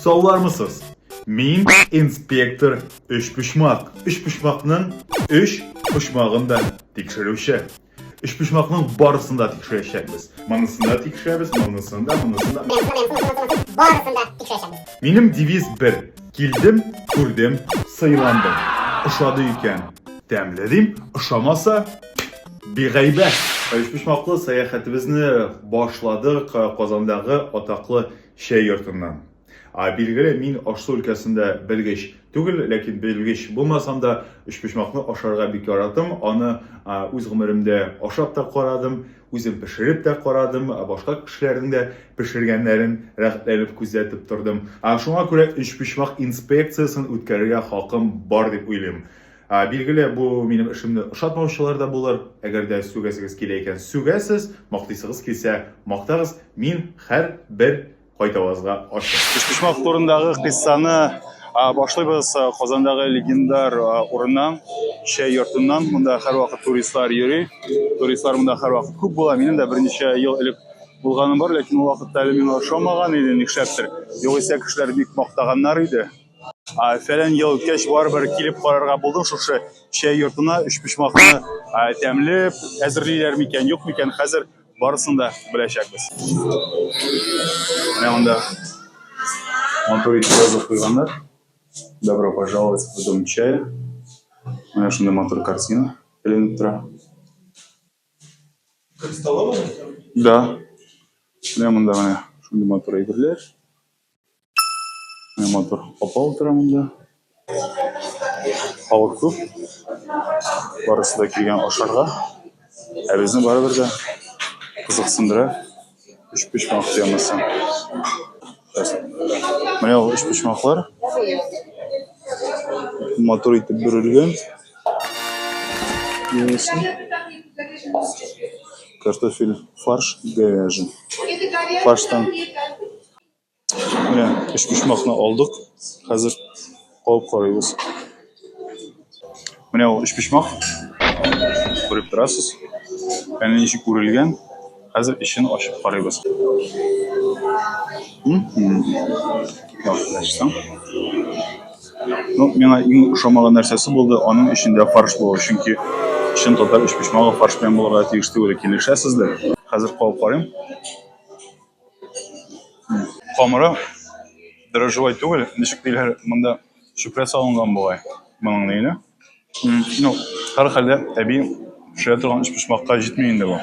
Саулармысыз? Мин инспектор Өчпочмак. Өчпочмакның өч почмагын да тикшерүче. Өчпочмакның барысын да тикшерәчәкбез. Монысын да тикшерәбез, монысын да, монысын да. Барысын да тикшерәчәкбез. Минем девиз бер. Килдем, күрдем, сыйландым. Ошады икән, тәмле дим, ошамаса, бигайбәт. Өчпочмаклы сәяхәтебезне башладык Казандагы атаклы Чәй йортыннан. А, билгеле, мин аш-су өлкәсендә белгеч түгел, ләкин белгеч булмасам да, өчпочмакны ашарга бик яратам. Аны үз гомеремдә ашап та карадым, үзем пешереп тә карадым, башка кешеләрнең дә пешергәннәрен рәхәтләнеп күзәтеп тордым. Шуңа күрә өчпочмак инспекциясен үткәрергә хакым бар дип уйлыйм. Ә, билгеле, бу минем эшемне ошатмаучылар да булыр. Әгәр дә сүгәсегез килә икән, сүгәсез, мактыйсыгыз килсә, мактагыз. Мин һәр бер кайтавазга ачык. Өчпочмак турындагы кыйссаны башлыйбыз Казандагы легендар урыннан, чәй йортыннан. Монда һәрвакыт туристлар йөри. Туристлар монда һәрвакыт күп була. Минем дә берничә ел элек булганым бар, ләкин ул вакытта әле миңа ошамаган иде, нишләптер. Югыйсә кешеләр бик мактаганнар иде. Фәлән ел үткәч, барыбер килеп карарга булдым шушы чәй йортына. Өчпочмакны тәмле әзерлиләр микән, юк микән, хәзер барысын да беләчәкбез. Менә монда матур итеп язып куйганнар. Добро пожаловать в дом чая. Менә шундый матур картина эленеп тора. Столовый? Да. Менә монда менә шундый матур әйберләр. Менә матур апа утыра монда. Халык күп. Барысы да килгән ашарга. Ә безне барыбер дә кызыксындыра. Өч почмак темасы. Менә ул өч почмаклар. Матур итеп бөрелгән. Картофель фарш говяжий. Фарштан Менә өчпочмакны алдык. Хәзер кабып карыйбыз. Менә ул өчпочмак. Күреп торасыз. Әле ничек күрелгән. Хәзер эчен ачып карыйбыз. Яхшылаштым. Ну, миңа иң ошамаган нәрсәсе булды, аның эчендә фарш булу, чөнки чын татар өчпочмагы фарш белән булырга тиеш түгел, килешәсездер? Хәзер кабып карыйм. Камыры дрожжевой түгел, ничек диләр монда, чүпрә салынган бугай моның нигенә. Ну, һәрхәлдә, әби пешерә торган өчпочмакка җитми инде бу.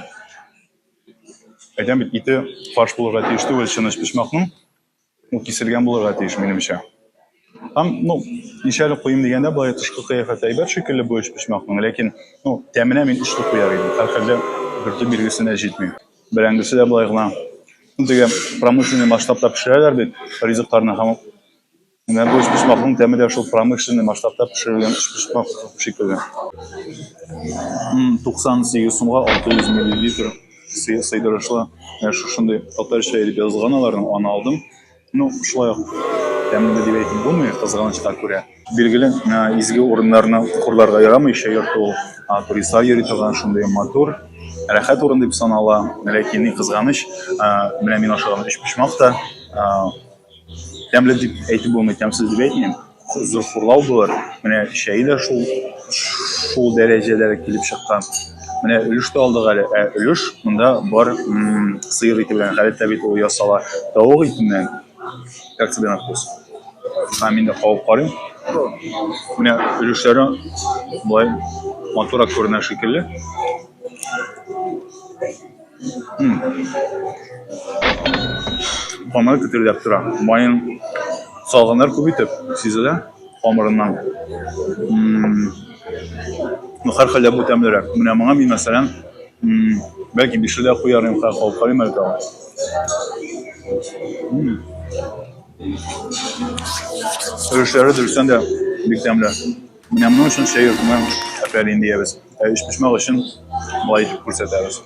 Әйтәм бит, ите фарш булырга тиеш түгел чын өчпочмакның, ул киселгән булырга тиеш, минемчә. Һәм, ну, ничәле куем дигәндә, былай тышкы кыяфәте әйбәт шикелле бу өч почмакның, ләкин, ну, тәменә мин өч дип куяр идем. Һәрхәлдә бөртек билгесенә җитми. Бәрәңгесе дә былай гына. Теге промышленный масштабта пешерәләр бит ризыкларны һәм менә бу өч почмакның тәме дә шул промышленный масштабта пешерелгән өч почмак шикелле. 98 сумга 600 миллилитр сыйдырышлы шушындый татарча итеп язылган аларның, аны алдым. Ну, шулай ук тәмле дип әйтеп булмый, кызганычка күрә. Билгеле, изге урыннарны хурларга ярамый, еще йорт ул туристлар йөри торган шундый матур, рәхәт урын дип санала. Ләкин ни кызганыч, менә мин ашаган өчпочмак та тәмле дип әйтеп булмый, тәмсез дип әйтмим. Зур хурлау булыр. Менә чәй дә шул шул дәрәҗәдә килеп чыккан. Менә өлеш тә алдык әле. Ә өлеш монда бар сыер ите белән. Гадәттә бит ул ясала тавык итеннән. Как тебе на вкус? Һәм мин дә кабып карыйм. Менә өлешләре болай матурак күренә шикелле. Камыр көтелдәп тора. Майын салганнар күп итеп, сизелә камырыннан. Ну, һәрхәлдә бу тәмлерәк. Менә моңа мин, мәсәлән, бәлки бише дә куяр идем, хәзер калып карыйм әле тагын. Өлешләре дөрестән дә бик тәмле. Менә моның өчен чәй йортына әфәрин диябез. Ә өчпочмак өчен болай итеп күрсәтәбез.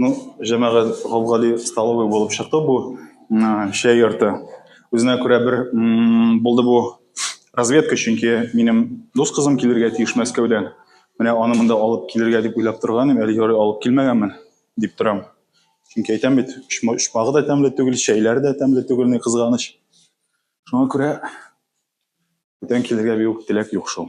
Ну, җәмәгать, гап-гади столовый булып чыкты бу чәй йорты. Үзенә күрә бер булды бу разведка, чөнки минем дус кызым килергә тиеш Мәскәүдән. Менә аны монда алып килергә дип уйлап торган идем, әле ярый алып килмәгәнмен дип торам. Чөнки әйтәм бит, очмагы да тәмле түгел, чәйләре дә тәмле түгел, ни кызганыч. Шуңа күрә бүтән килергә бик үк теләк юк шул.